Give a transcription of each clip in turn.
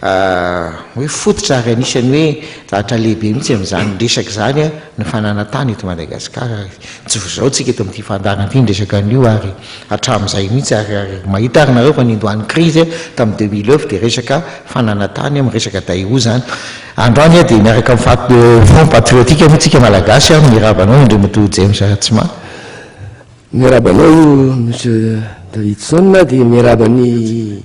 hoe fototra ary anisan'ny hoe ratra lehibe mihitsy amin'izany resaka izany ny fananan-tany eto Madagasikara ary tsy vao izao tsika eto amin'ity fandaharana ity ny resaka an'io ary hatramin'izay mihitsy ary ary mahita ary nareo fa nindohan'ny krizy tamin'ny deux mille neuf dia resaka fananan-tany miresaka Daewoo izany androany aho dia miaraka amin'ny fat front patriotique moa tsika Malagasy ary mirava anao Andriamatoa James Ratsimaty. Miaraba anao Monsieur Davidson dia miaraba ny.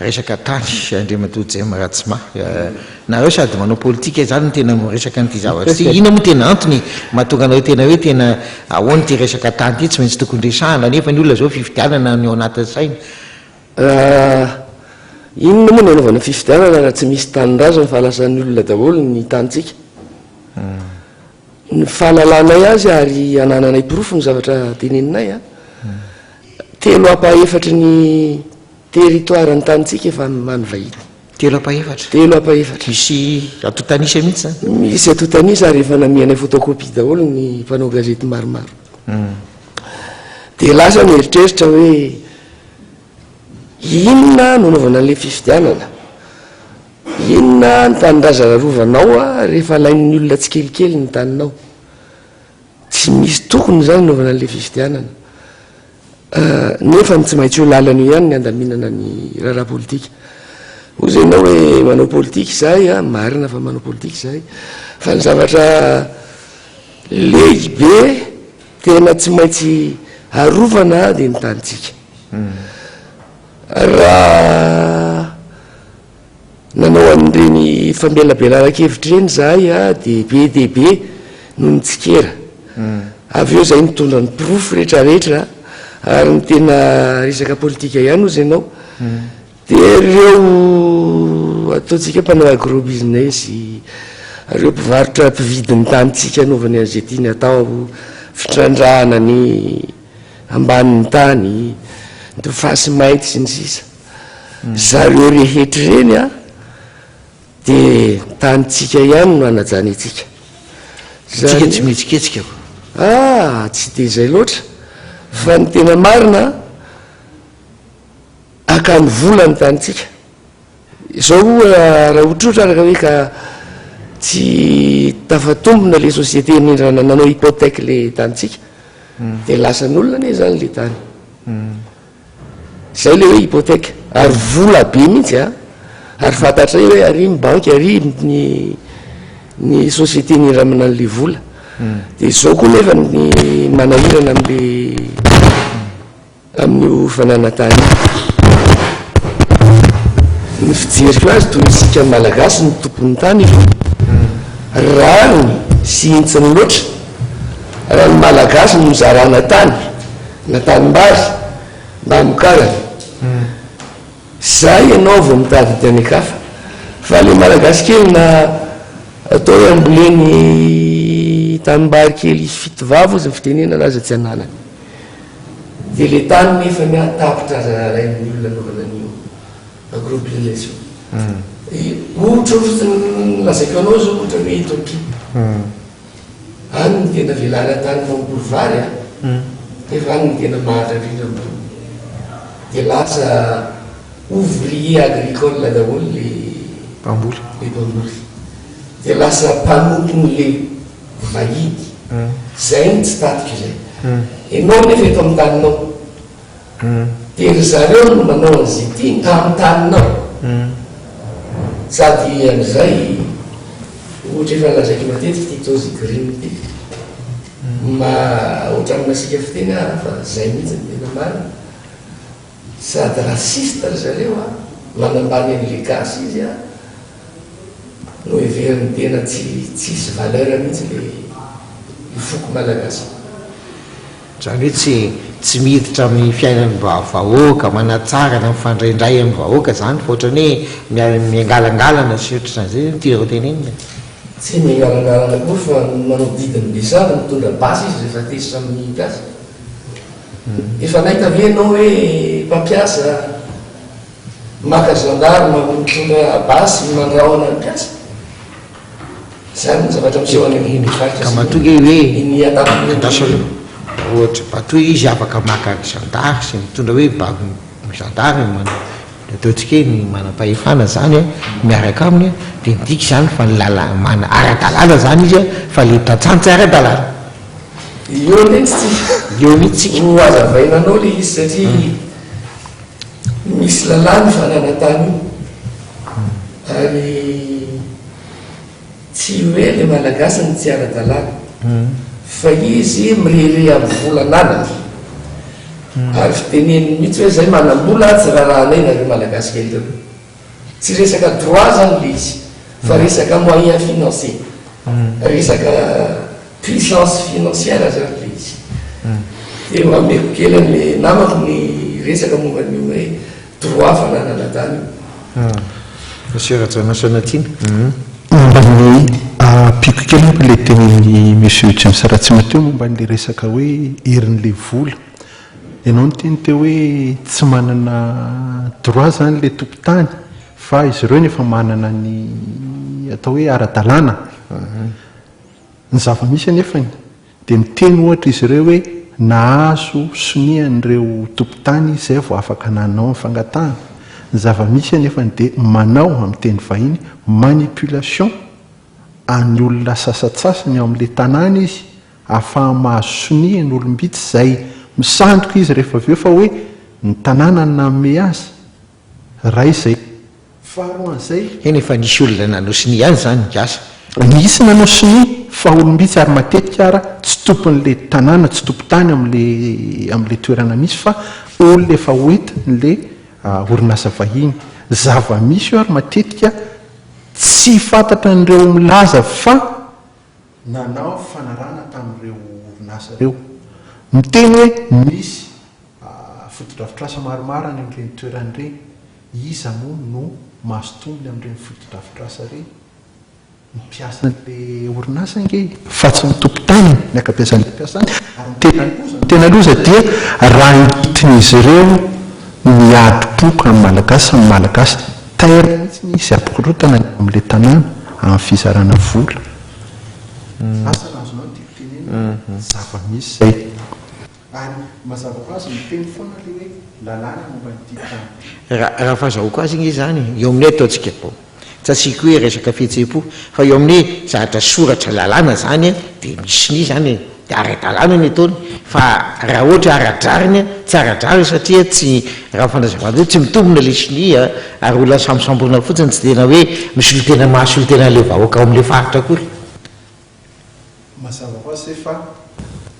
Resaka tany Andriamatoa Jem Ratsima. Nareo sady manao politika izany no tena miresaka an'ity zavatra ity. Inona moa tena antony mahatonga anareo tena hoe tena ahoana ity resaka tany ity? Tsy maintsy tokony resahana nefa ny olona izao fifidianana no ao anatin'ny sainy. Inona moa no anaovana fifidianana raha tsy misy tanindrazana fa lasan'ny olona daholo ny tanintsika? Ny fahalalanay azy ary anananay porofo ny zavatra teneninay an, telo apa efatry ny. Territoire ny tanintsika efa ny many vahiny. Telo apa efatra. Telo apa efatra. Misy atotanisa mihitsy zany. Misy atotanisa ary efa namianay photocopie daholo ny mpanao gazety maromaro. Dia lasa ny eritreritra hoe inona no anaovana an'ilay fifidianana? Inona ny tanindrazana arovanao rehefa alain'ny olona tsikelikely ny taninao? Tsy misy tokony izany anaovana an'ilay fifidianana. nefa ny tsy maintsy io lalana io ihany ny handaminana ny raharaha politika. Hoy izay ianao hoe manao politika izahay a, marina fa manao politika izahay, fa ny zavatra lehibe tena tsy maintsy arovana dia ny tanintsika. Raha Nanao an'ireny famelabelaran-kevitra ireny izahay dia be dia be no nitsikera. Avy eo izahay nitondra ny porofo rehetra rehetra ary ny tena resaka politika ihany ozy ianao dia ireo ataontsika mpanao agro business, ireo mpivarotra mpividy ny tanintsika anaovany an'izay tiany atao, fitrandrahana ny ambanin'ny tany, ny fasy mainty sy ny sisa. Zareo rehetra ireny an, dia ny tanintsika ihany no hanajanentsika. Isika tsy mihetsiketsika fa. Ah! tsy dia izay loatra. Fa ny tena marina an, akany vola ny tanintsika. Izao ho'a raha ohatrohatra araka hoe ka tsy tafatombina ilay société nindràna nanao hypothèque ilay tanintsika, dia lasan'olona anie izany ilay tany. Zay le hoe hypothèque ary vola be mihitsy a! Ary fantatray hoe ary ny banky ary ny ny société nindra amin'an le vola. Dia zao koa nefa ny manahirana am le amin'io fananantany io. Ny fijeriko azy toy isika malagasy ny tompon'ny tany efa rariny sy hintsiny loatra raha ny malagasy no zarana tany. Na tanimbary na amokarany. Zay ianao vao mitady ity any an-kafa. Fa le malagasy kely na atao hoe amboleny tanimbary kely fito vava ozy ny fitenenana aza tsy ananany. De le tany nefa ny ahy tapitra aza arahin'ny olona anaovana an'io agrobusiness io. Ohatra ohatra ny lazaiko anao zao ohatra hoe eto ampita. Any ny tena velary an-tany mamboly vary a! Nefa any ny tena mahatrarira ny vola. Dia lasa ouvrier agricole daholo le mpamboly. Le mpamboly. Dia lasa mpanompon'le vahiny. Zay ny tsy tatiko zay. Enao nefa eto amin'ny taninao. Dia ry zareo no manao an'izay tiany ka amin'ny taninao. Sady amin'izay, ohatra efa nolazaiko matetika ity Tozy Green ity, maha ohatran'ny masiaka fiteny aho fa izay mihitsy no tena marina. Sady raciste ry zareo an, manambany an'ilay gasy izy an, noheveriny tena tsy tsisy valeur mihitsy ilay io foko malagasy io. Izany hoe tsy tsy miditra amin'ny fiainan'ny vahoaka, manatsara na mifandray indray amin'ny vahoaka izany fa ohatran'ny hoe miangalangalana sy ny ohatran'izany. Izay no tianao hotenenina e? Tsy miangalangalana akory fa manao didin'ny be sahady mitondra basy izy rehefa tezitra amin'ny mpiasa. Efa nahita ve ianao hoe mpampiasa maka gendarme mitondra basy mandrahona ny mpiasa? Izany ny zavatra miseho any amin'ny faritra sasany. Ka matoa ange hoe andrasana ohatra bateau izy afaka maka ny zandary sy mitondra hoe baby ny zandary no manao dia ataontsika hoe ny manam-pahefana izany an miaraka aminy an dia midika izany fa ny lala mana ara-dalàna izany izy an fa ilay tantsaha no tsy ara-dalàna. Eo mihitsy tsika. Eo mihitsy tsika. Ho hazavaina anao ilay izy satria misy lalàna io fananantany io. Ary tsy hoe le malagasy no tsy ara-dalàna fa izy mirehareha am volan'anany ary fiteneniny mihitsy hoe zay manam-bola atsy rarahanay nareo malagasy kely reo. Tsy resaka droit zany le izy fa resaka moyen financier, resaka puissance financière zany le izy. Dia ameko kely anle namako ny resaka momba an'io hoe. Droit fananana zany io. Monsieur Rajaonasa Natiana, momba ny, ampiako kely aho ilay tenin'i Monsieur James Ratsima teo momba an'ilay resaka hoe herin'ilay vola. Ianao niteny teo hoe tsy manana droit izany ilay tompon-tany fa izy ireo no efa manana ny atao hoe ara-dalàna. Ny zava-misy anefany Dia miteny ohatra izy ireo hoe nahazo sonia an'ireo tompon-tany izy izay vao afaka nanao ny fangatahana. Ny zava-misy anefany dia manao, amin'ny teny vahiny, manipulation an'ny olona sasantsasany ao amin'ilay tanàna izy ahafahany mahazo sonia ny olom-bitsy izay misandoka izy rehefa avy eo fa hoe ny tanàna no nanome azy. Ray izay. Faharoan'izay, eny efa nisy olona nanao sonia ihany izany ny gasy. Nisy nanao sonia fa olom-bitsy ary matetika ara tsy tompon'ilay tanàna, tsy tompon-tany amin'ilay amin'ilay toerana misy fa olona efa hoentin'ilay orinasa vahiny. Zava-misy io ary matetika tsy fantatran'ireo milaza fa. nanao fanarahana tamin'ireo orinasa ireo, miteny hoe misy fotodrafitrasa maromaro any amin'ireny toerana ireny, iza moa no mahazo tombony amin'ireny fotodrafitrasa ireny? Ny mpiasan'ilay orinasa ange e, fa tsy ny tompon-taniny, ny ankabeazan'ilay mpiasany, ary ny tena loza, ny tena loza dia raha entin'izy ireo ny adi-po amin'ny Malagasy sy ny Malagasy. Taire mihitsy ny izy ampikorontana ny ao amin'ilay tanàna amin'ny fizarana vola. Sasany azonao ny tiako tenenina, zava-misy izay. Ary mazava ho azy miteny foana ilay hoe lalàna momba an'ity tany ity. Raha fahazahoako azy ange izany, eo aminay ataontsika, tsy asiako hoe resaka fihetseham-po, fa eo aminay zahatra soratra lalàna izany dia misy ny izany e. Dia ara-dalàna ny ataony fa raha ohatra ara-drariny, tsy ara-drariny satria tsy, raha ny fanazavana hoe tsy mitombina ilay sonia ary olona sambosamboina fotsiny tsy tena hoe misolotena mahasolotena an'ilay vahoaka ao amin'ilay faritra akory. Mazava ho azy ve fa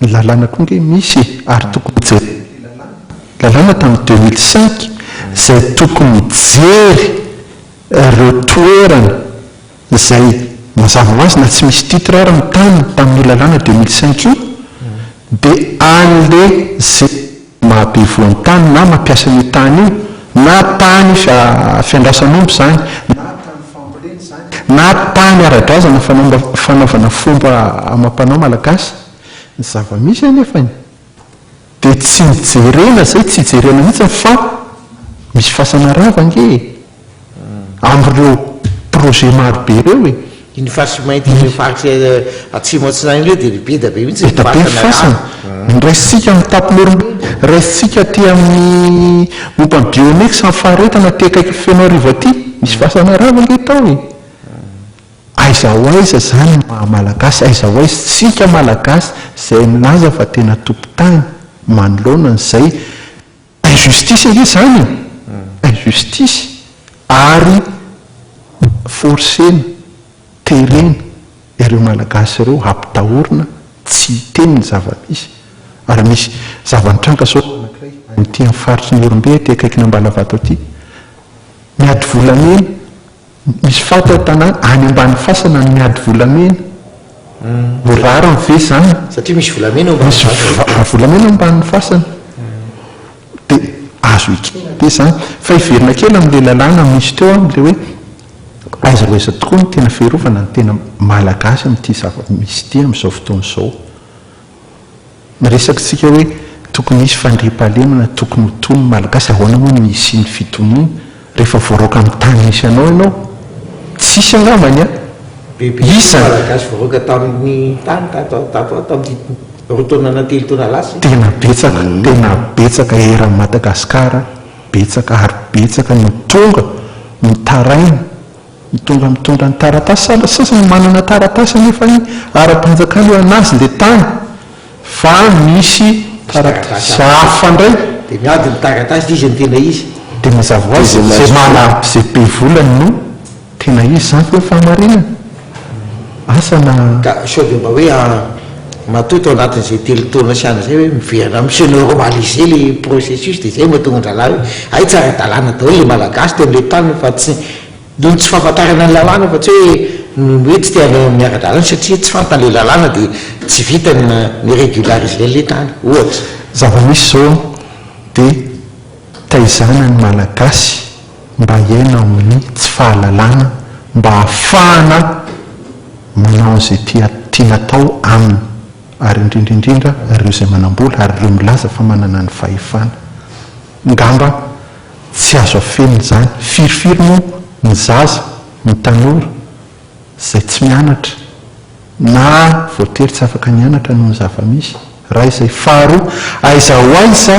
ny lalàna koa ange misy e, ary tokony ho jerena ilay lalàna. Lalàna tamin'ny deux mille cinq izay tokony hijery ireo toerana. izay mazava ho azy na tsy misy titre ary ny tany tamin'io lalàna deux mille cinq io dia an'le ze mahabe voantany na mampiasa an'io tany io na tany fiandrasan'omby zany na tany fambolena zany na tany ara-drazana fanaovana fomba amam-panao malagasy, ny zava-misy anefany. Dia tsy nijerena izay tsy hijerena mihitsy fa misy fasana rava ange e! Amin'ireo projet maro be ireo e! Iny fasy mainty ireo faritra atsimo atsinanana ireo dia beda be mihitsy ny fasana rava. Beda be ny fasana. Ny raisintsika amin'ny tapo normely, raisintsika aty amin'ny momba ny biomex sy ny faharetana aty akaikin'ny Fenoarivo aty, misy fasana rava ange tao e! Aiza ho aiza izany ny maha Malagasy? Aiza ho aiza isika Malagasy izay milaza fa tena tompon-tany manoloana an'izay? Injustice ange izany e! Injustice ary forcena, terena ireo Malagasy ireo hampitahorina tsy hiteny ny zava-misy. Ary misy zava-nitranga izao anankiray any aty amin'ny faritry ny Ihorombe aty akaikin'Ambalavato aty. Miady volamena. Misy faty ao tanàna any ambany fasana ny miady volamena. Ho rariny ve izany? Satria misy volamena ao ambany fasana. Misy volamena ao ambany fasana. Dia azo ekena ve izany? Fa hiverina kely amin'ilay lalàna misy teo amin'ilay hoe aiza ho aiza tokoa no tena fiarovana ny tena Malagasy amin'ity zava-misy ity amin'izao fotoana izao. Miresaka isika hoe tokony hisy fandriampahalemana, tokony ho tony ny Malagasy, ahoana moa ny hisian'ny fitoniana rehefa voaraoka amin'ny tany misy anao ianao? Tsisy angambany an! Bebe koa ny Malagasy voaraoka tamin'ny tany tato ho tato ato amin'ity roa taona na telo taona lasa ity. Tena betsaka, tena betsaka eran'i Madagasikara, betsaka ary betsaka no tonga, mitaraina, Mitondra mitondra ny taratasy sady sasany manana taratasy anefa ny ara-panjakana eo anazy le tany fa misy taratasy hafa ndray. Dia miady ny taratasy izy ny tena izy. Dia mazava ho azy izay manana izay be vola no tena izy izany ve ny fahamarinana? Asa na. Ka sao dia mba hoe an, matoa tao anatin'izay telo taona sy any izay hoe miverina mi se normaliser ilay processus dia izay no mahatonga an-drahalahy hoe hay tsy ara-dalàna daholo ilay Malagasy teo amin'ilay tany fa tsy, noho ny tsy fahafantarana ny lalàna fa tsy hoe noho ny hoe tsy te hanao miara-dalàna satria tsy fantany ilay lalàna dia tsy vitany ny ni-regulariser an'ilay tany, ohatra. Zava-misy izao an, dia. Taizana ny Malagasy mba hiaina ao amin'ny tsy fahalalana mba hahafahana manao an'izay tia tiana atao aminy ary indrindra indrindra ireo izay manam-bola ary ireo milaza fa manana ny fahefana. Ngamba tsy azo afenina izany. Firifiry moa ny zaza, ny tanora. izay tsy mianatra na voatery tsy afaka nianatra noho ny zava-misy, iray izay. Faharoa, aiza ho aiza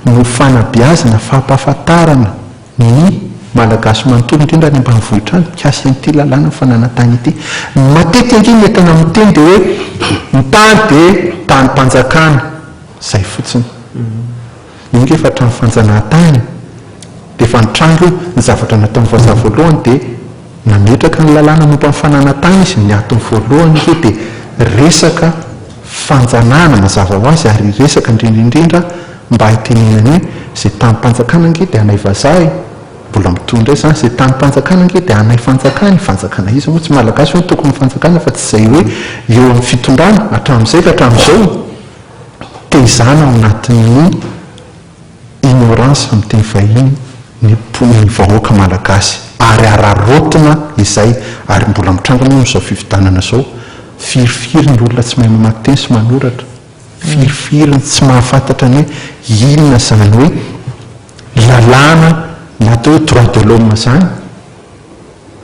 no fanabeazana, fampahafantarana ny Malagasy manontolo, indrindra any ambanivohitra any, mikasika an'ity lalàna fananantany ity. Ny matetika ange ny entana miteny dia hoe ny tany dia tanim-panjakana, izay fotsiny. Io ange efa trano fanjanahantany, dia efa nitranga io, ny zavatra nataon'i Vazaha voalohany dia. Nametraka ny lalàna momba ny fananantany izy ny atiny voalohany aloha dia resaka fanjanahana mazava ho azy ary resaka indrindra indrindra mba hitenenany hoe izay tanim-panjakana ange dia anay vazaha e! mbola mitohy indray izany izay tanim-panjakana ange dia anay fanjakana e! fanjakana iza moa tsy malagasy ve no tompony fanjakana fa tsy izay hoe eo amin'ny fitondrana hatramin'izay ka hatramin'izao tehizana ao anatin'ny ignorance amin'ny teny vahiny ny mponin'ny vahoaka malagasy ary araraotina izay ary mbola mitranga moa amin'izao fifidianana izao firifiry ny olona tsy mahay mamaky teny sy manoratra firifiry ny tsy mahafantatra ny hoe inona izany hoe lalàna na atao hoe droit de l'homme izany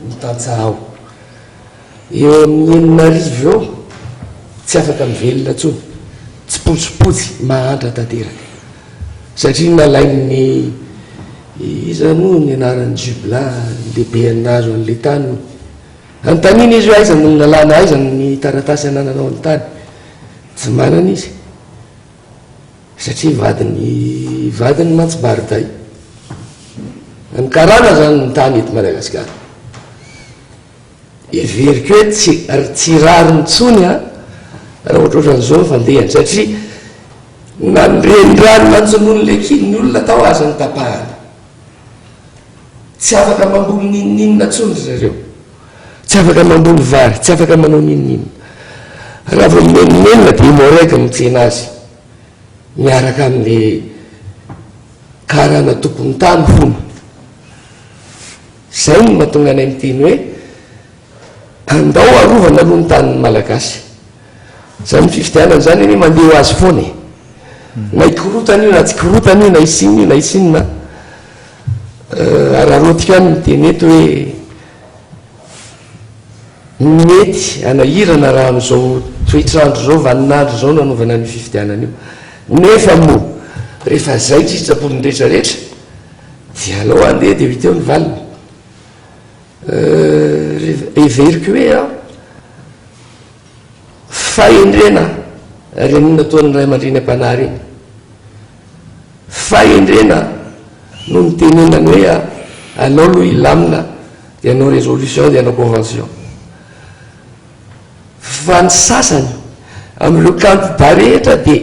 ny tantsaha ao. Eo amin'ny enina arivo eo, tsy afaka mivelona intsony, tsipotsipotsy, mahantra tanteraka. Satria nalain'ny, iza moa ny anaran'ny Jubla, ny lehiben'ny nahazo an'ilay tany hono. Anontanina izy hoe aiza no nalana, aiza ny taratasy anananao ny tany. Tsy manana izy. Satria vadin'ny vadiny mantsy Bariday. An'ny karana zany ny tany eto Madagasikara. Heveriko hoe tsy tsy rariny tsony a raha ohatrohatran'izao ny fandehany satria na ny renirano nanjonoan'ny lekiny ny olona tao aza notapahana. Tsy afaka mamboly n'inon'inona intsony ry zareo. Tsy afaka mamboly vary, tsy afaka manao n'inon'inona. Raha vao mimenomenona dia i Moreg mitsena azy miaraka amin'ilay karana tompon'ny tany hono. Izay no mahatonga anay miteny hoe andao arovana aloha ny tanin'ny Malagasy. Izany fifidianana izany anie mandeha ho azy foana e. Na hikorotana io na tsy hikorotana io, na hisy inona io na hisy inona. Araraotika ihany ny teny eto hoe mety hanahirana raha amin'izao toetr'andro izao, vanin'andro izao no hanaovana an'io fifidianana io. Nefa moa rehefa izay ny sitrapon'ny rehetra rehetra dia alao handeha dia ho hita eo ny valiny. Heveriko hoe an! Fahendrena ry amin nataony ray aman-dreny am-panahy reny. Fahendrena no nitenenany hoe alao aloha hilamina dia hanao résolution dia hanao convention. Fa ny sasany amin'ireo candidats rehetra dia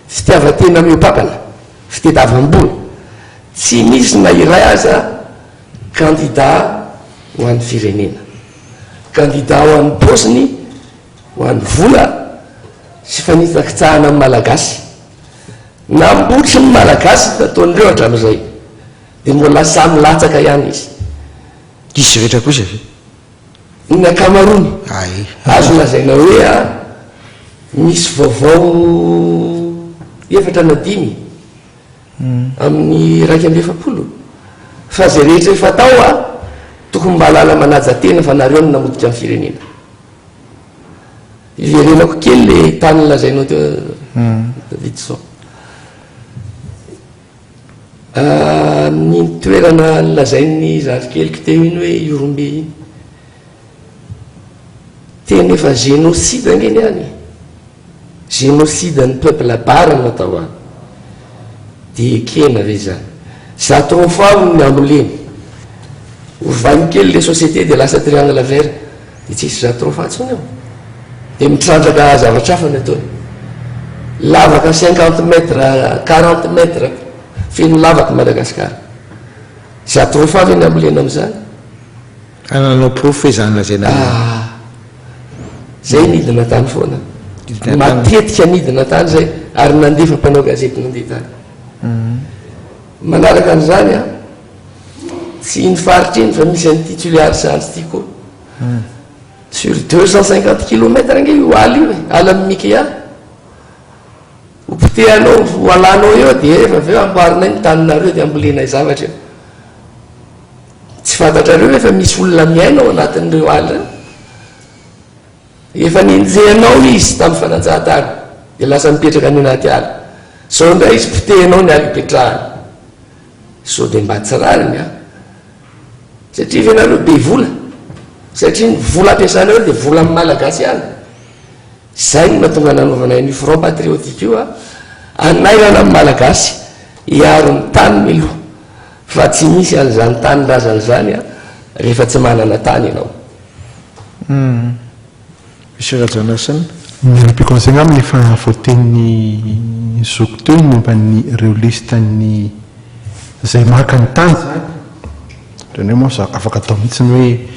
fitiavan-tena mihoa-papana, fitediavam-bola. Tsy misy na iray aza candidat ho an'ny firenena. Kandida ho an'ny paosiny, ho an'ny vola sy fanitsakitsahana ny Malagasy. Nambotry ny Malagasy ny nataon'ireo hatramin'izay, dia mbola sahy milatsaka ihany izy. Diso rehetra kosa ve? Ny ankamaroany. Ae. Azo lazaina hoe misy vaovao efatra na dimy. amin'ny iraika amby efapolo fa zay rehetra efa tao a tokony mba lala manaja tena fa nareo no namotika ny firenena iverenako kely le tany nolazainao teo Davidson amin'ny toerana nolazain'ny zalikeliko teo iny hoe Yorombe iny tena efa génocide ange ny any Génocide an'ny peuple bar no atao any dia ekena ve izany? Za trop fort ny hamoleny. Ovainy kely le société dia lasa triangle vert dia tsisy za trop fort tsony eo. Dia mitrandraka zavatra hafa ny ataony. Lavaka cinquante mètre, quarante mètre feno lavaka Madagascar. Za trop fort ve ny hamolena amin'izany? Ka nanao porofo hoe izany lazaina hoe. Ah! Izay nidina tany foana. Matetika nidina tany izay ary nandefa mpanao gazety nandeha tany. Manaraka an'izany an, tsy iny faritra iny fa misy an'ity Toliara Andry ity koa. Sur deux cent cinquante kilomètres ange io ala io e, ala amin'i Mikea. Ho potehanao, ho alanao eo dia efa avy eo amboarinay ny taninareo dia ambolenay zavatra eo. Tsy fantatrareo ve fa misy olona miaina ao anatin'ireo ala ireo? Efa nenjehanao le izy tamin'ny fanajahantany dia lasa mipetraka any anaty ala. Izao indray izy potehinao ny ala ipetrahany. Sao dia mba tsy rariny an! Satria ve nareo be vola? Satria ny vola ampiasanareo dia volan'ny Malagasy ihany? Izay no nahatonga nanaovanay an'io front patriotique io a! Hanairana ny Malagasy, hiaro ny taniny aloha, fa tsy misy an'izany tanindrazana izany a, rehefa tsy manana tany ianao. Humm. Monsieur Rajanasina. Ny repliquons aigna amin'ny efa voatenin'ny zoky teo ny momba ny ireo liste ny izay maka ny tany izany. Ireny hoe moa afaka atao mihitsy ny hoe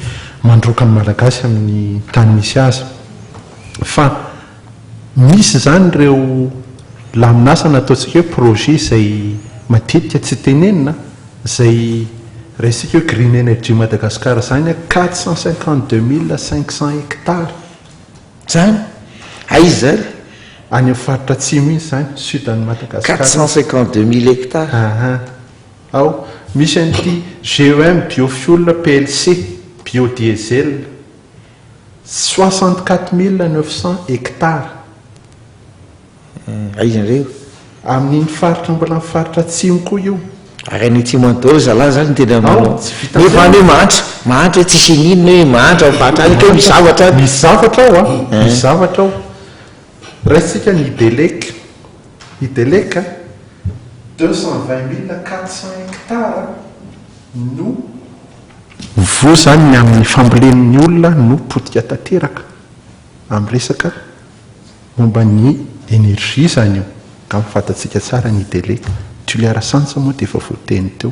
mandroaka ny Malagasy amin'ny tany misy azy. Fa misy izany ireo lamin'asa na ataontsika hoe projet izay matetika tsy tenenina, izay raisintsika hoe Green Energy Madagascar izany, quatre cent cinquante deux mille cinq cent hectares izany. Aiza ary? Any amin'ny faritra atsimo iny izany, sud an'i Madagascar. Quatre cent cinquante deux mille hectares. Aha. Ao, misy an'ity GEM Biofuel plc, Biodiesel, soixante quatre mille neuf cents hectares. Aiza indray io? Amin'iny faritra mbola ny faritra atsimo koa io. Ary any atsimo any daholo zalahy zany ny tena manao. Ao, tsy vitan'izay. Nefa any hoe mahantra, mahantra hoe tsisy iniana hoe mahantra ao faritra any kay misy zavatra any. Misy zavatra ao a, misy zavatra ao. Raisintsika ny Belec. I Deleka, deux cent vingt mille quatre cents hectares no. Voa izany ny amin'ny fambolen'ny olona no potika tanteraka amin'ny resaka momba ny energie izany io, angamba fantatsika tsara ny i Deleka. Tuliarasantsa moa dia efa voateny teo.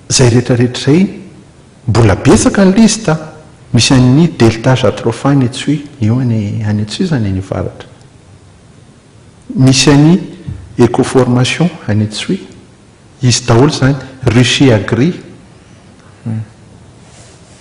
Zay rehetra rehetra zay mbola betsaka ny liste a! Misy an'i Delta Jatropha any Antsohihy, eo any any Antsohihy zany any avaratra. Misy an'i Ecoformation any Antsohihy. Izy daholo zany. Ruchy Agri.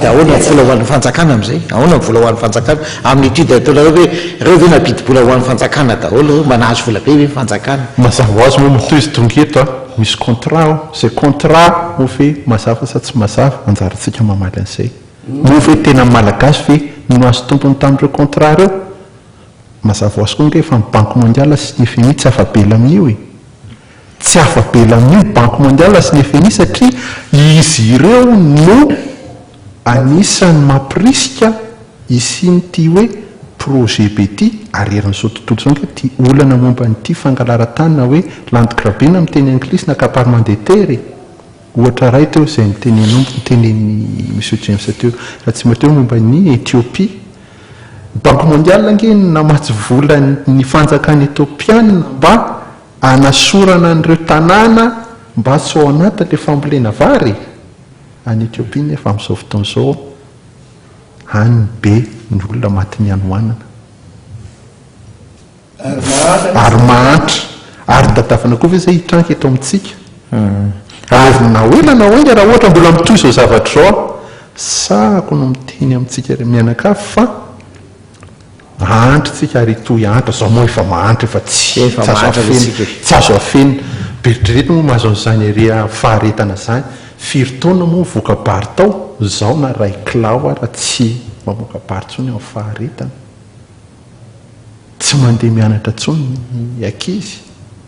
Dia ahoana ny vola ho an'ny fanjakana amin'izay? Ahoana ny vola ho an'ny fanjakana? Amin'ity dia ataonareo hoe ireo ve nampidi-bola ho an'ny fanjakana daholo ireo? Mba nahazo vola be ve ny fanjakana? Mazava ho azy moa ny tohizo dongy eto a! Misy contrat ao, izay contrat moa ve mazava sa tsy mazava? Anjarantsika mamaly an'izay. Moa ve tena ny Malagasy ve no nahazo tombony tamin'ireo contrat ireo? Mazava ho azy koa ange fa ny Banky Mondiale sy ny FMI tsy afa-bela amin'io e! Tsy afa-belan'io Banky Mondiale sy ny FMI satria izy ireo no anisan'ny mampirisika hisian'ity hoe projet be ity ary herin'izao tontolo izao ange ity olana momba an'ity fangalaran-tany na hoe land grabbing amin'ny teny anglisy na accaparement des terres e! ohatra iray teo izay nitenenao, nitenen'i Monsieur James teo raha tsy maty aho momba an'i Ethiopie. Ny Banky Mondiale ange no namatsy vola ny fanjakana Ethiopiana mba Hanasorana an'ireo tanàna mba tsy ho ao anatin'ilay fambolena vary any Ethiopia nefa amin'izao fotoana izao any ny be ny olona matin'ny hanoanana ary mahantra ary tadavina koa ve izay hitranga eto amintsika ary na ho ela na ho enga raha ohatra mbola mitohy izao zavatra izao aho sahako no miteny amintsika mianakavy fa Mahantra tsika ary hitohy antra zao moa efa mahantra efa tsy azo afena tsy azo afena beritrereta moa mahazo an'izany ery faharetana zany firy taona moa voka-bary tao zao na ray kilao ara tsy mamoaka bary tsony amin'ny faharetana tsy mandeha mianatra tsony ny ankizy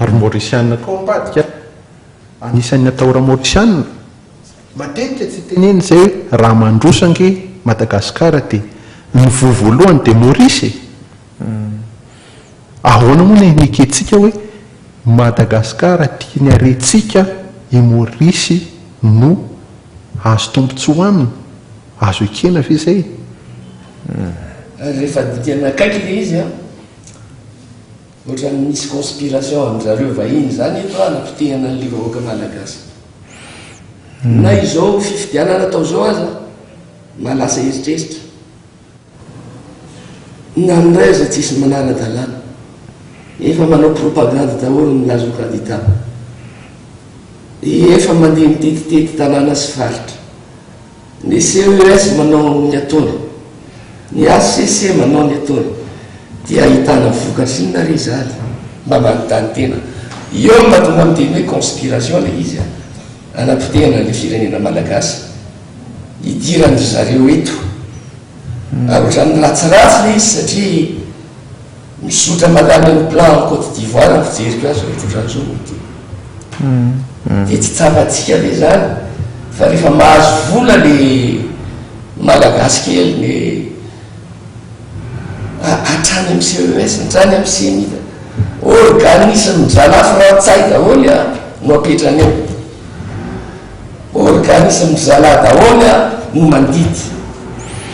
Ary ny Maorisianina koa ambadika an! Anisan' ny atahora Maorisianina, matetika tsy tenenina izay hoe raha mandroso ange Madagasikara dia ny voa voalohany dia Maorisy e! Ahoana moa ny ekentsika hoe Madagasikara tiany harentsika i Maorisy no azo tombontsoa aminy? Azo ekena ve izay e? Rehefa dikana akaiky ilay izy an! Otrany misy conspiration amin zareo vahiny zany eto a anapotehana anle vahoaka malagasy. Na izao fifidianana atao zao aza na lasa heritreritra. Na ndray aza tsisy manara dalana. Efa manao propagande daholo ny lazo kadida. Efa mandeha mitetitety tanana sy faritra. Ny CES manao ny ataony, ny HCC manao ny ataony, dia ahitana vokatra inona ary izany? Mba manontany tena. Eo no mahatonga miteny hoe conspiration ilay izy an! Hanapotehana an'ilay firenena malagasy hidiran dry zareo eto. Ary ohatran'ny ratsiratsy ilay izy satria. Mizotra mankany amin'ny Plan en Côte d'Ivoire ny fijeriko azy ry Tsotra Ntsongo ity. Dia tsy tsapantsika ve izany fa rehefa mahazo vola ny Malagasy kely dia hatrany amin'ny CES, hatrany amin'ny ceni fa organisme mizanà frantsay daholo no apetrany eo. Organisme mizanà daholo no mandidy.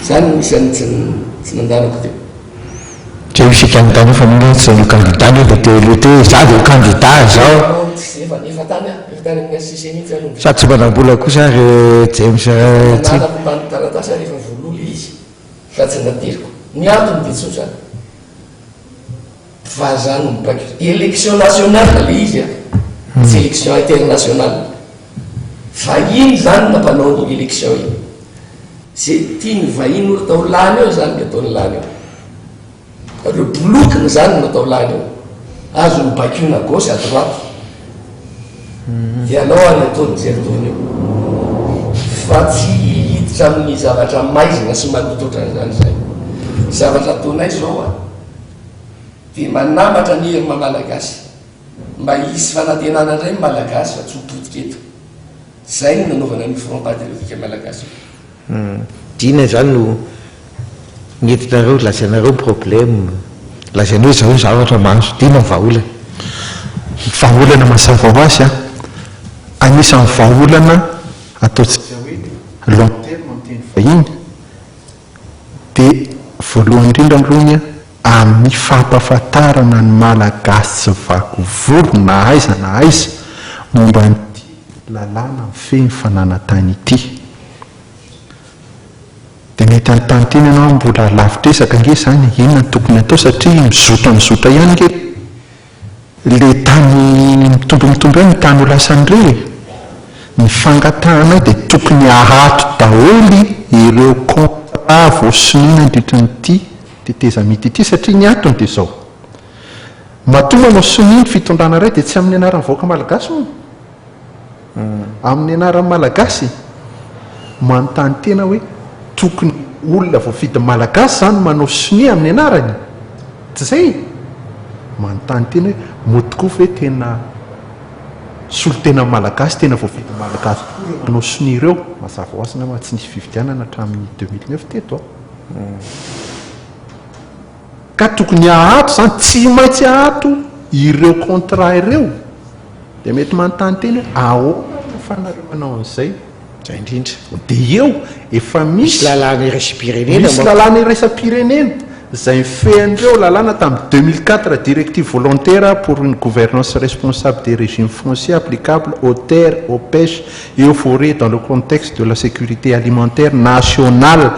Izany no isan'ny tsy nandaniko teo. Teo isika nitany hoe fa nahoana tsy ianao kandida nefa teo aloha teo izaho dia ho kandida izao. Sa tsy manam-bola kosa ary James Ratsy? Vahiny zany no mpanao an'iny élection iny. Ze tian'ny vahiny ho atao lany eo zany no ataony lany eo. Reo bolokiny zany no atao lany eo. Azony baikoina à gauche à droite. Ianao ary ataony mijery tony eo. Fa tsy hiditra amin'ny zavatra maizina sy maloto otran'izany izahay. Zavatra ataonay zao a, de manambatra anie ry maha Malagasy. Mba hisy fanantenana indray ny Malagasy fa tsy ho potika eto. Izay no nanaovana an'io Front Patriotique Malagasy io. Dina izany no nentinareo lazainareo ny problème, lazainao izao ny zavatra mba hahazotiana ny vahaolana. Ny vahaolana mazava ho azy, anisan'ny vahaolana ataontsika hoe long terme amin'ny teny vahiny dia voalohany indrindra aloha ny. amin'ny fampahafantarana ny Malagasy tsy vaky volo na aiza na aiza momba an'ity lalàna mifehy ny fananantany ity dia mety hanontany tena ianao mbola lavitr'ezaka ange izany e, inona no tokony hatao satria mizotra mizotra ihany ange Le tany mitombo mitombo eo ny tany ho lasan'ireo e! Ny fangatahanay dia tokony hahato daholo ireo contrat voasonona handritra an'ity tetezamita ity satria ny antony dia izao, matoa manao sonia ny fitondrana iray dia tsy amin'ny anaran'ny vahoaka malagasy moa? Amin'ny anaran'ny Malagasy? Manontany tena hoe tokony olona voafidy Malagasy izany manao sonia amin'ny anarany? Tsy izay? Manontany tena hoe moa tokoa ve tena solontenan'ny Malagasy, tena voafidy Malagasy tokoa ireo manao sonia ireo? Mazava ho azy angamba tsy nisy fifidianana hatramin'ny deux mille neuf teto an! Ka tokony ahato izany, tsy maintsy ahato ireo contrat ireo. Dia mety manontany tena hoe ahoana no ahafahanareo manao an'izay? Izay indrindra. Dia eo, efa misy. Misy lalàna iraisam-pirenena mantsy. Misy lalàna iraisam-pirenena izay mifehy an'ireo lalàna tamin'ny deux mille quatre, Directive volontaire pour une gouvernance responsable des régimes fonciers applicables aux terres, aux pêches et aux forêts dans le contexte de la sécurité alimentaire nationale.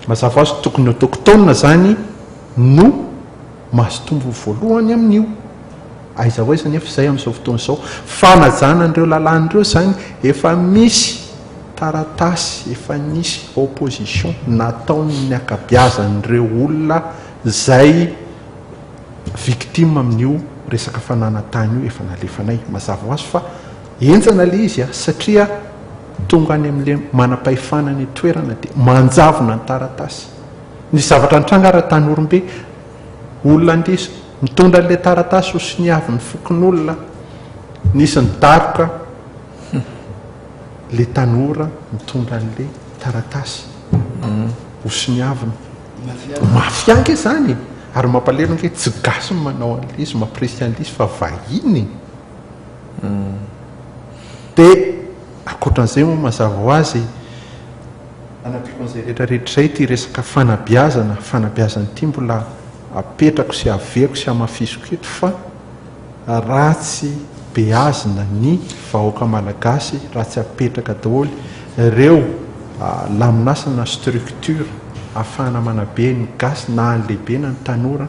Mazava ho azy tokony autochtone izany no mazotombony voalohany amin'io. Aiza ho aiza anefa izay amin'izao fotoana izao. Fanajana an'ireo lalàna ireo izany efa misy taratasy efa nisy opposition nataon'ny ankabiazan'ireo olona izay victime amin'io resaka fananantany io efa nalefanay. Mazava ho azy fa henjana ilay izy satria. Tonga any amin'ilay manam-pahefana any an-toerana dia manjavona ny taratasy. Ny zavatra nitranga ary an-Tanorimbe, olona andeha mitondra an'ilay taratasy ho soniavin'ny fokonolona, nisy nidaroka ilay tanora mitondra an'ilay taratasy ho soniaviny. Mafia ange izany e! Ary mampalahelo ange tsy gasy no manao an'ilay izy, mampirisika an'ilay izy fa vahiny e! Dia ankoatran'izay moa mazava ho azy, hanampiako an'izay rehetra rehetra izay ity resaka fanabeazana, fanabeazana ity mbola apetrako sy avehako sy hamafisiko eto fa raha tsy beazina ny vahoaka malagasy, raha tsy apetraka daholo ireo laminasa na structure ahafahana manabe ny gasy na ny lehibe na ny tanora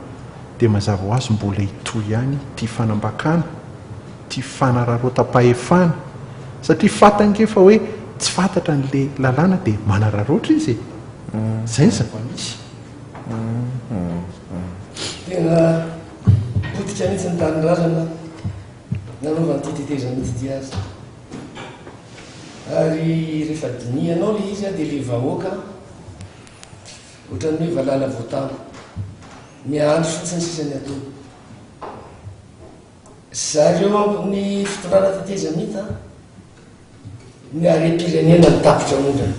dia mazava ho azy mbola hitohy ihany ity fanambakana, ity fanararaotam-pahefana, satria fantany nge fa hoe tsy fantatra an'ilay lalàna dia manararaotra izy e! Izay ny zava-misy. Tena potika mihitsy ny tanindrazana nanaovan'ity tetezana ity azy. Ary rehefa dinihanao ilay izy dia ilay vahoaka. Ohatran'ny hoe valala voatango. Miandry fotsiny sisa ny atoa. Zareo ambon'ny fitondrana tetezamita ny harem-pirenena ny tapitra mondrany.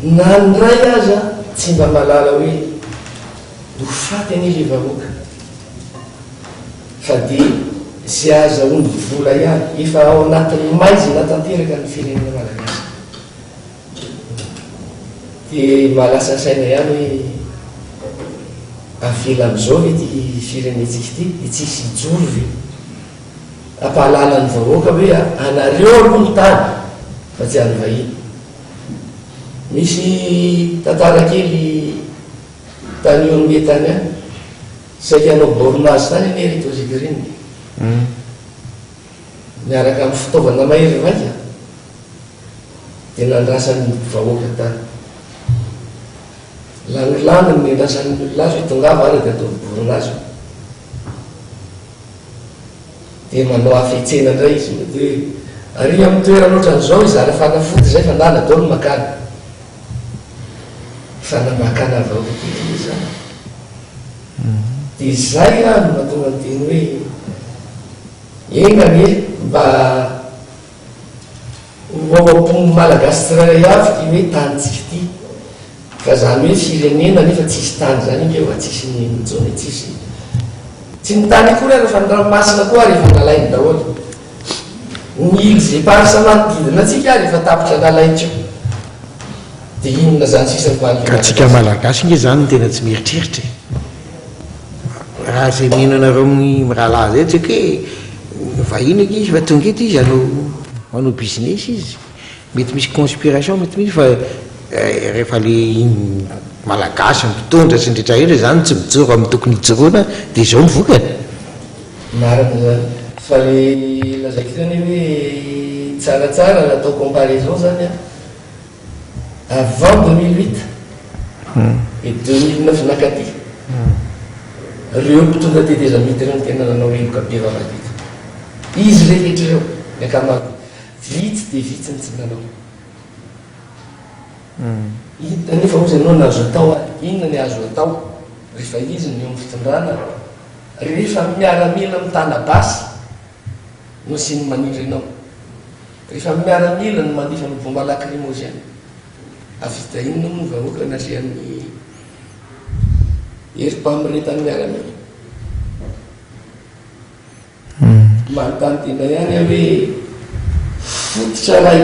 Na ny iray aza tsy mba malala hoe ho faty anie le vahoaka. Fa dia ze azahoany vola ihany. Efa ao anatin'ny maizina tanteraka ny firenena malagasy. Dia mba lasa saina ihany hoe avela amin'izao ve ity firenentsika ity dia tsy hisy hijoro ve? Hampahalala ny vahoaka hoe anareo aloha ny tany fa tsy an'ny vahiny. Misy tantara kely tany Ormie tany ihany, saika hanao borne azy tany anie ry Tozy Green niaraka amin'ny fitaovana mahery vaika. dia nandrasan'ny vahoaka tany. Lanilany no niandrasan'ny olona azy hoe tongava ary dia ataovy boron'azo. Dia manao hafetsena indray izy mety hoe ary amin'ny toerana ohatran'izao izara fanafody izay fa ndana dao ny makana. Fa namakana vahoaka kely izany. Dia izay ary no mahatonga ny teny hoe enga anie mba Roapolo Malagasy tsirairay avy ty hoe tanintsika ty ka zany hoe firenena nefa tsisy tany zany ngeh oa tsisy ny mijony e tsisy tsy ny tany akory ary fa ny ranomasina koa ary efa nalainy daholo ny iles eparses manodidina antsika ary efa tapitra nalaintsika de inona zany sisa ny mahaliana antsika malagasy ngeh zany no tena tsy mieritreritra e. Raha izay mino anareo mirahalahy izay tsy hoe vahiny eky izy fa tonga eto izy hanao manao business izy. Mety misy conspiration mety misy fa rehefa ilay malagasy mpitondra sy ny rehetra rehetra izany tsy mijoro amin'ny tokony hijoroana dia izao ny vokany. Marina izany. Fa ilay lazaiko teo anie hoe tsaratsara natao comparaison izany an. Avant deux mille huit et deux mille neuf nakaty, reo mpitondra tetezamita reo no tena nanao heloka be vavadidiko. Izy rehetra ireo, ny ankamaroany. Vitsy dia vitsy ny tsy nanao. Inona anefa hozy ianao no azo atao ary? Inona ny azo atao rehefa izy no eo amin'ny fitondrana, rehefa miaramila mitana basy? Nosy ny maniry anao. Rehefa miaramila no mandefa ny bomba lakrimozena, hahavita inona moa ny vahoaka nalehan'ny herim-pamiretan'ny miaramila? Manontany tena ihany aho hoe fototra iray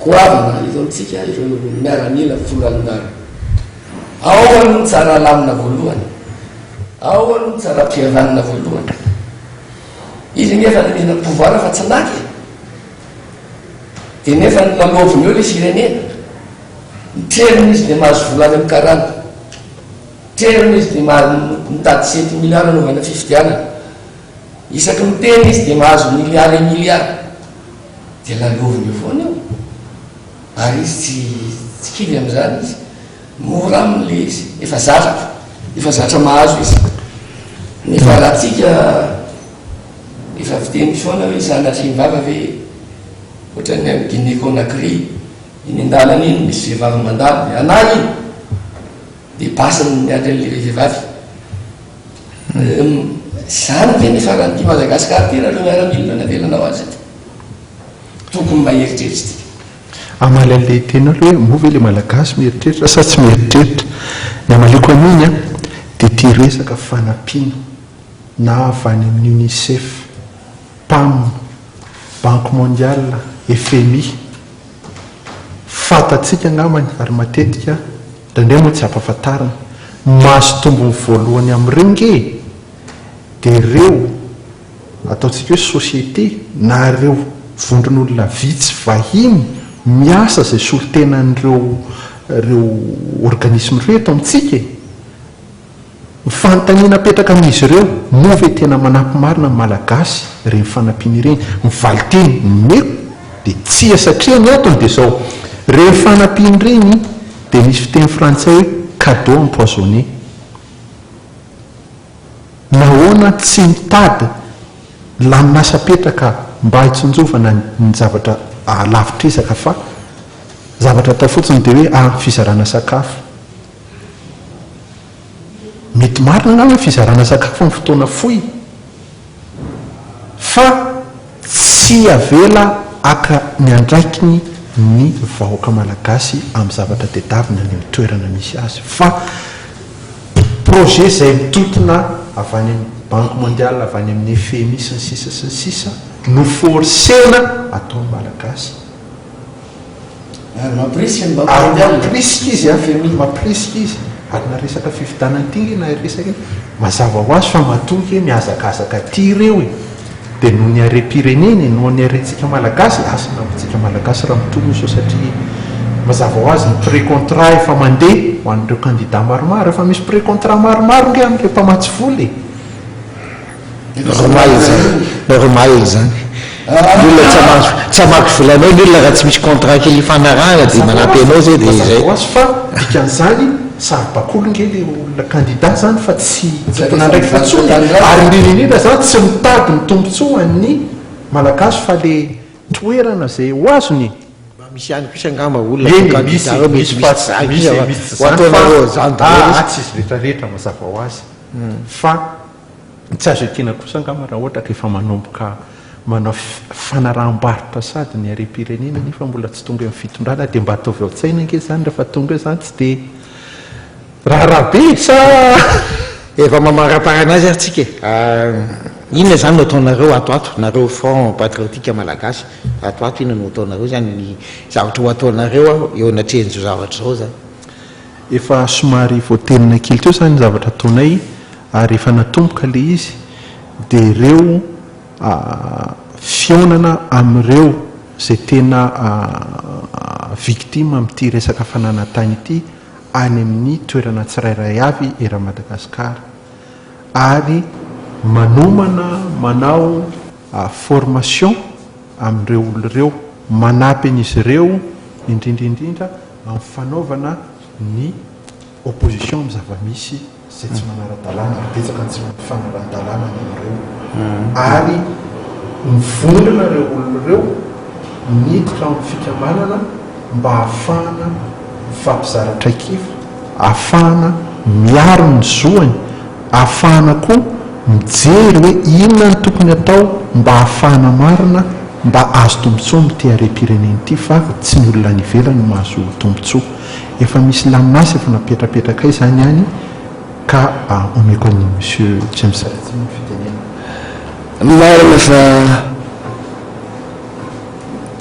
goavana eto amintsika ireo miaramila volany maro. Ao aloha ny tsara alamina voalohany, ao aloha ny tsara ampihavanina voalohany. Izy anie efa nanendry ny pouvoir fa tsy maty e! Dia nefa ny lalaoviny eo ilay firenena. Mitrerona izy dia mahazo vola any amin'ny karana. Mitrerona izy dia mahazo mitady sept milliards hanaovana fifidianana. Isaky ny miteny izy dia mahazo milliards et milliards. Dia lalaoviny eo foana io. Ary izy tsy tsy kivy amin'izany izy. Mora aminy ilay izy. Efa zatra. Efa zatra mahazo izy. Nefa raha antsika efa fiteny misaona hoe sanatria vava ve ohatran'ny any Guinée Conakry eny an-dalana eny misy vehivavy mandalo anà iny dia basy-ny miandry an'ilay vehivavy. Izany ve ny faran'ity Madagasikara ity raha ireo miaramila no navelanao azy ity? tokony mba eritreritsika. Amaly anle teny alo hoe moa ve le malagasy mieritreritra sa tsy mieritreritra? Ny amaliako an'iny an, dia ity resaka fanampiana na avy any amin'ny UNICEF, Pam, Banque Mondiale, FMI, fantatsika angambany ary matetika indraindray moa tsy ampafantarina, mahazo tombony voalohany amin'ireo nge dia ireo Ataontsika hoe société na ireo vondron'olona vitsy vahiny miasa izay solontenan'ireo ireo organisme ireo eto amintsika e! Ny fanontaniana apetraka amin'izy ireo, moa ve tena manampy marina ny Malagasy ireny fanampiana ireny? Ny valinteny omeko dia tsia satria ny antony dia izao, ireny fanampiana ireny dia misy fiteny frantsay hoe cadeau empoisonné. Nahoana tsy mitady laminasam-petraka mba hitsinjovana ny zavatra lavitr'ezaka fa zavatra atao fotsiny dia hoe ah fizarana sakafo. Mety marina angamba ny fizarana sakafo amin'ny fotoana fohy. Fa tsy avela haka ny andraikiny ny vahoaka malagasy amin'ny zavatra tedavina any amin'ny toerana misy azy fa projet izay mitontona avy any amin'ny banque mondiale, avy any amin'ny FMI sy ny sisa sy ny sisa no forcena ataon'ny malagasy. Ary mampirisika ny vahoaka Ary hiala. mampirisika izy an, Femi, mampirisika izy. Ary na resaka fifidianana ity re na resaka iny, mazava ho azy fa matoa kay mihazakazaka aty ireo e! Dia noho ny harem-pirenena e, noho ny harentsika Malagasy e! Asa na amintsika Malagasy raha mitohy io sao satria mazava ho azy ny pré-contrat efa mandeha ho an'ireo kandida maromaro, efa misy pré-contrat maromaro nge amin'ireo mpamatsy vola e! Romail zany na romail zany ny olona tsy mahazo tsy hamaky volanao ny olona raha tsy misy contrat kely ifanarahana dia manampy anao zay dia izay. Mazava ho azy fa dikan'izany saribakoly nge le olona candidat zany fa tsy tompon'andraikitra intsony e! ary indrindra indrindra zany tsy mitady ny tombotsoa ho an'ny malagasy fa le toerana zay ho azony e! Mba misy ihany kosa angamba olona atao candidat ao mety misy zany kosa ho ataonareo an'izany daholo izy. Atsy izy retraretra mazava ho azy fa. Tsy azo ekena kosa angamba raha ohatra ka efa manomboka manao fanaraham-barotra sady ny harem-pirenena nefa mbola tsy tonga eo amin'ny fitondrana dia mba ataovy ao an-tsaina ange izany rehefa tonga eo izany tsy dia raharaha be e! Sa. Efa mamaraparana azy ary tsika e! Inona izany no ataonareo ato ato, nareo Front Patriotique Malagasy ato ato inona no ataonareo izany, ny zavatra ho ataonareo eo anatrehan'izao zavatra izao izany? Efa somary voadenona kely teo izany zavatra ataonay ary efa natomboka ilay izy dia ireo fihaonana amin'ireo izay tena victime amin'ity resaka fananantany ity any amin'ny toerana tsirairay avy eran'i Madagasikara ary manomana manao formation amin'ireo olona ireo manampy an'izy ireo indrindra indrindra amin'ny fanaovana ny opposition amin'ny zava-misy izay tsy manara-dalàna ary betsaka ny tsy mifanaran-dalàna amin'ireo ary mivondrona ireo olona ireo miditra ao amin'ny fikambanana mba hahafahana mifampizara traikefa, hahafahana miaro ny zoany. Ahafahana koa mijery hoe inona no tokony atao mba hahafahana marina mba azo tombotsoa amin'ity harem-pirenena ity fa tsy ny olona any ivelany no mahazo tombotsoa. Efa misy laminasy efa napetapetrakay izany any ka omeko an'i Monsieur James Ratsy ny fitenenana. Marina fa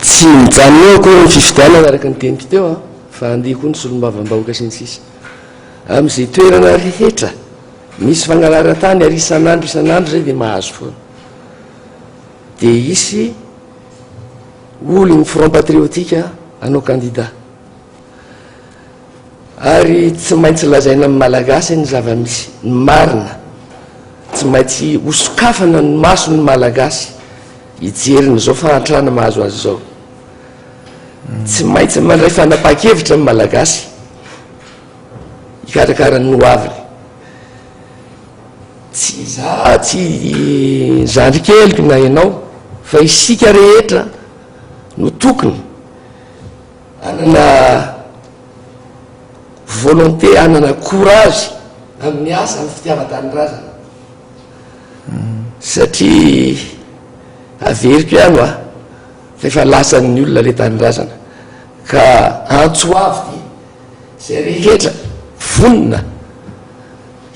tsy mijanona eo akory ny fifidianana araka ny teniko teo an, fa handeha koa ny solombavambahoaka sy ny sisa. Amin'izay toerana rehetra misy fangalaran-tany ary isan'andro isan'andro izay dia mahazo foana. Dia hisy olon'ny Front Patriotique hanao kandida. Ary tsy maintsy lazaina amin'ny Malagasy ny zava-misy, ny marina. Tsy maintsy hosokafana ny mason'ny Malagasy hijery ny izao fahantrana mahazo azy izao. Tsy maintsy mandray fanapahan-kevitra ny Malagasy. Hikarakara ny ho aviny. Tsy izaho, tsy ny zandry keliko na ianao fa isika rehetra no tokony hanana volonté, hanana courage amin'ny asa, amin'ny fitiavan-tanindrazana satria averiko ihany hoa fa efa lasan'ny olona ilay tanindrazana ka antso avo dia. izay rehetra vonona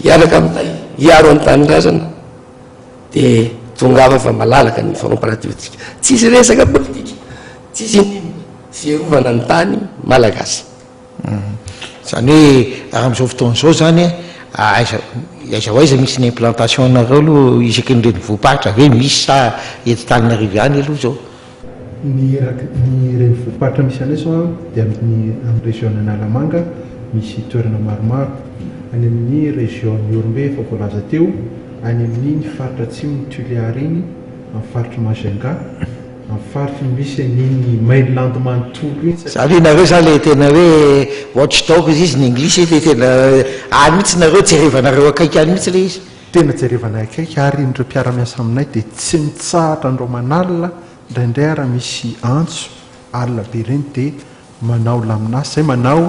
hiaraka aminay hiaro ny tanindrazana dia tongava fa malalaka ny famparatiotsika tsisy resaka politika tsisy inona fiarovana ny tany malagasy mhm. zany hoe raha am'izao fotoana izao zany ah, aiza aiza ho aiza misy ny implantation nareo aloha isaky ny renivohim-paritra ve misy sa eto taninarivo ihany aloha zao Ny ireny volom-paritra misy anay izao dia amin'ny region Analamanga misy toerana maromaro, any amin'ny region Ihorombe efa voalaza teo, any amin'iny faritra atsimon'i Tuléar iny, amin'ny faritry Majunga, amin'ny faritry misy an'iny mainland manontolo iny. Za ve nareo za le tena hoe watchdog izy ny English le tena any mihitsy nareo jerevanareo akaiky any mihitsy le izy. Tena jerevanay akaiky ary indreo mpiara-miasa aminay dia tsy mitsahatra andro aman'alina indraindray ary misy antso alina be ireny dia manao laminasy izay manao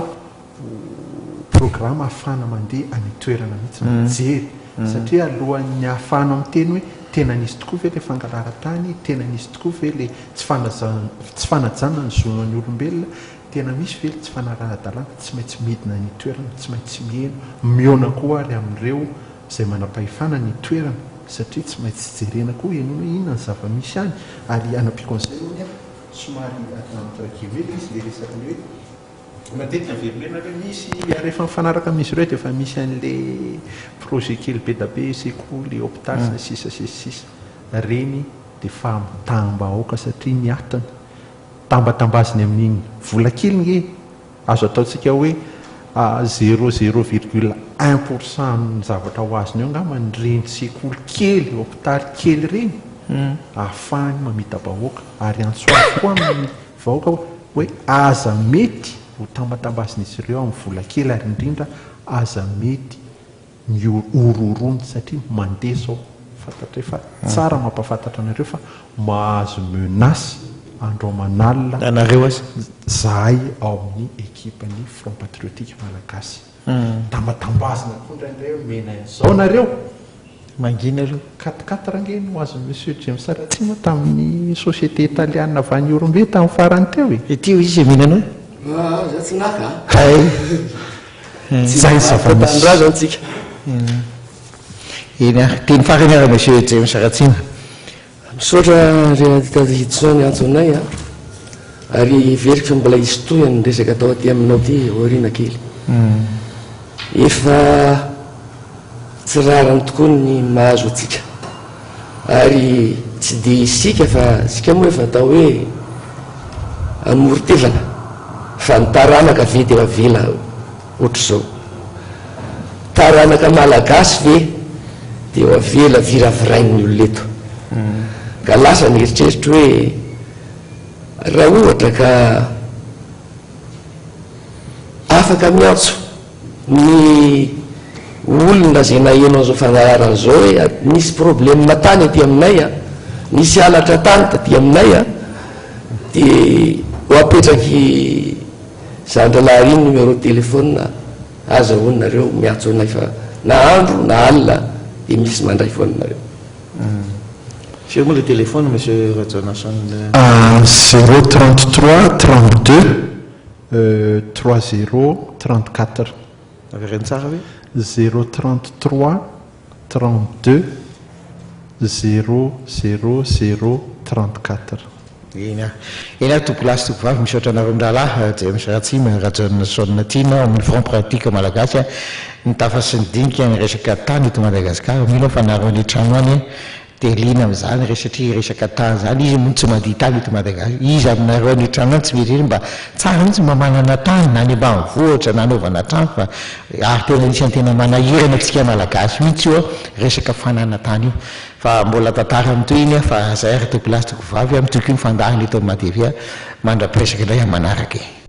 programa ahafahana mandeha any an-toerana mihitsy mijery satria alohan'ny ahafahanao miteny hoe tena nisy tokoa ve ilay fangalaran-tany, tena nisy tokoa ve ilay tsy fanajana ny zonan'ny olombelona Tena misy ve tsy fanaraha-dalàna? Tsy maintsy midina ny toerana, tsy maintsy miheno, mihaona koa ary amin'ireo izay manam-pahefana ny toerana satria tsy maintsy jerena koa henoina hoe inona ny zava-misy any ary anampiako an'izay hono nefa somary atao entre guillemets izy ilay resaka ilay hoe matetika velomena ilay misy ary efa mifanaraka amin'izy ireo dia efa misy an'ilay projet kely be da be sekoly, hopitaly sy ny sisa sy ny sisa. Ireny dia fahamitaham-bahoaka satria ny atiny. tambatambaziny amin'iny vola kely nge azo ataontsika hoe zero zero virgule un pour cent amin'ny zavatra ho azony eo angamba ny ireny sekoly kely, hopitaly kely ireny ahafahany mamita-bahoaka ary antso avo koa amin'ny vahoaka hoe aza mety ho tambatambazin'izy ireo amin'ny vola kely ary indrindra aza mety mihorohoroana satria mandeha zao fantatray fa tsara mampafantatra anareo fa mahazo menace andro aman'alina zahay ao amin'ny ekipa ny front patriotique malagasy da mba tambazina koa indraindray hoe mena izao nareo mangina aloha quatre quatre ange no azon'i monsieur James Ratsima tamin'ny société italiana avy any Ihorombe tamin'ny farany teo e! Ity hoy izy e mena anao e! Aah za tsy naka a! Hay! Tsy mahita tanindrazana tsika. Eny ary, teny farany ary Monsieur James Ratsina. Misaotra ry Adidas Hidson niantso anay a! ary heveriko fa mbola hisy tohiny ny resaka atao aty aminao aty aoriana kely. Efa. Tsy rariny tokoa ny mahazo antsika ary tsy dia isika fa isika moa efa atao hoe hamory tevana fa ny taranaka ve dia avela ohatr'izao? Taranaka malagasy ve dia ho avela viravirain'ny olona eto? Ka lasa ny eritreritro hoe raha ohatra ka afaka miantso Ny olona zay naheno an'izao fangalarana izao hoe nisy probleme tany aty aminay a, nisy halatra tany taty aminay a, dia ho apetraky zandrilahy ary numéro téléphone aza hono nareo miantso anay fa na andro na alina dia misy mandray foana nareo. Firy moa le téléphone monsieur Rajanason? Zéro trente trois trente deux Trois zero trente quatre. Avereno tsara ve? Zero trente trois trente deux zero zero zero trente quatre. Eny ah. Eny ah tompokolahy sy tompovavy misaotra anareo mirahalahy James Ratsima, Rajaona Shawn Tiana ao amin'ny Front Pratique Malagasy a. Ny tafa sy ny dinika ny resaka tany eto Madagasikara. Mino aho fa nareo any an-trano any Dia liana amin'izany re satria resaka tany izany, izy moa tsy mandia tany eto Madagascar. Iza aminareo any an-trano any tsy mieritreritra mba tsara mihitsy mba manana tany na any ambanivohitra na anaovana trano fa ary tena anisan'ny tena manahirana antsika Malagasy mihitsy io resaka fanana tany io. Fa mbola tantara amin'itoy iny aho fa izay ary tiako lahy sy tiako vavy, mitohy koa ny fandaharana eto amin'ny Maha TV mandra-piresaka indray amin'ny manaraka e.